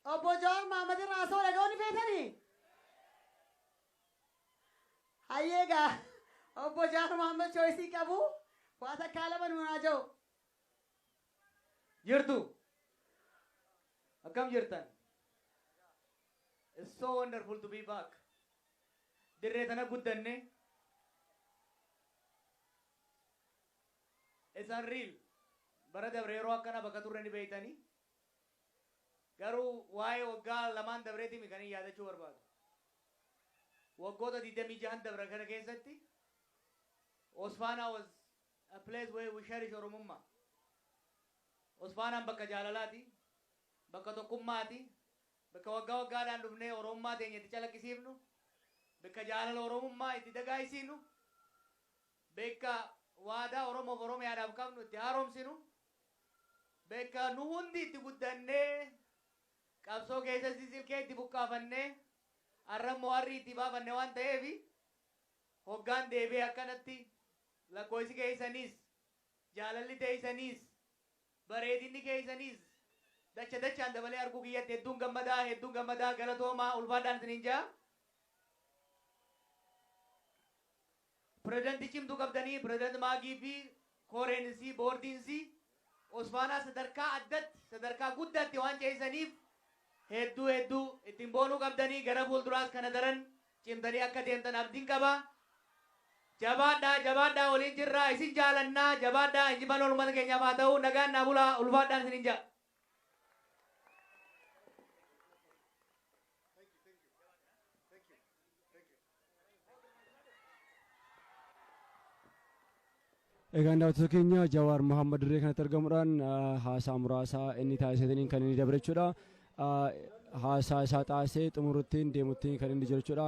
Obbo Jawaar Mahammad irraa haasoo dhaga'uu ni feetanii? Hayyee egaa obbo Jawaar Mahammad chooyisii qabu waa takkaa lama nuun haa ja'u. Jirtu. Akkam jirtan? It's so wonderful to be back. Dirree tana guddanne. Isaan real. Bara dabre yeroo akkana bakka turre ni beektani. Garuu waa'ee waggaa lamaan dabreeti mi kanin yaadachuu barbaadu. Waggoota 26n dabran kana keessatti Hosfaanaa was a place where we cherish Oromummaa. Hosfaanaan bakka jaalalaati, bakka tokkummaati, Bkka wagga waggaadhaan dhufnee Oromummaa teenya itti calaqqisiifnu, bkka jaalala Oromummaa itti dagaagsiinu, bkka waadaa Oromoof Oromiyaadhaaf qabnu itti haaromsinu, bkka nu hundi itti guddannee qabsoo keessattis ilkee itti buqqaafannee arrammoo arrii itti baafanne waan ta'eef hoggaan deebi'e akkanatti lakkooysi keessaniis, jaalalli teeysaniis, Bareedinni keessanis dacha dachaan dabalee arguu kiyyatti hedduun gammadaa hedduun gammadaa galatoomaa ulfaadhaan isiniin ja'a. Pirezidantii cimtuu qabdanii Pirezidanti Maagii fi koreen isii boordiin isii Osfaanaa sadarkaa addatti sadarkaa guddaatti waan ceessaniif hedduu hedduu ittiin boonuu qabdanii gara fuulduraas kana daran Cimtanii akka deemtan abdin qaba. Jabaadhaa jabaadhaa waliin jirraa isin jaalannaa jabaadhaa injifannoon ummata keenyaaf haa ta'uu nagaan naa bulaa ulfaadhaan isinin ja'a. Egaan daawwattoota keenya Jawaar Mohaammed dirree kanatti argamuudhaan haasaa muraasa inni taasisataniin kan inni dabre jechuudha. Haasaa isaa taasisee xumuruttiin deemuttiin kan inni jiru jechuudha.